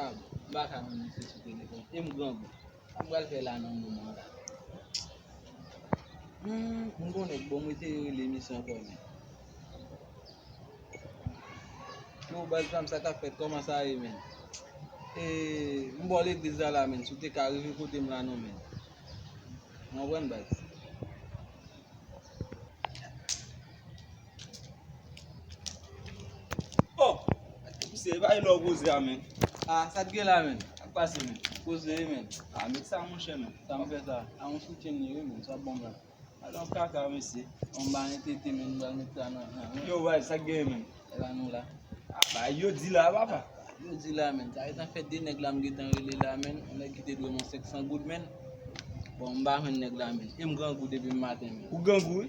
Ah, m pa ka menm se sou telefon. E m grangou. Sa m pral fè la nan moman la. Hmm, m konnen bon mwen te rele misyon kò men. Yo baz pa m sa kap fèt kòman sa ye men. E m bò legliz la la men, si w te ka rive kote m la non men. Mwen wè m baz. Oh! Misye e pa e lò w poze a menm. Ah sa t gen la menm? Sa k pase menm? Poze e menm. Ah met sa monchè menm. Sa m fè sa? A yon soutyen m ye wi menm sa bon menm. A yon kaka mesye. Bon m ba yon tete menm m pral met sa nan nan menm. Yo bay sa k gen menm? E ba nou la. Ah bay yo di la papa. Bay yo di la menm. Sa etan fè 2 nèg la m gentan rele la menm. Yon nèg ki te dwe m yon 500 goud menm. Bon m ba jwenn nèg la menm. E m grangou depi m maten menm. Ou grangou wi?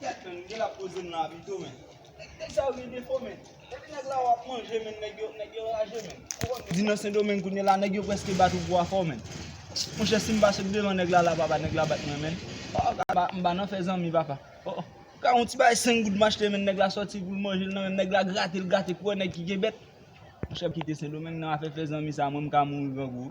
Gad menm gel ap poze m la pito menm. Nèg nèg sa yo gen defo menn. Depi nèg la ou ap manje menn nèg yo nèg yo raje menn. Ou konn di nan sendomeng kounye la nèg yo preske bat ou pou afè w menn. Monchè si m pa sot devan nèg la la papa nèg la bat mwen menn. Oh papa m pa nan fè zanmi papa. Oh oh ka yon ti bagay 5 goud m achte menn nèg la soti pou l manje l nan menm nèg la grate l grate pou wè nèg ki gen bèt. Chèf kite sendomeng nan afè fè zanmi sa mwen m ka mouri grangou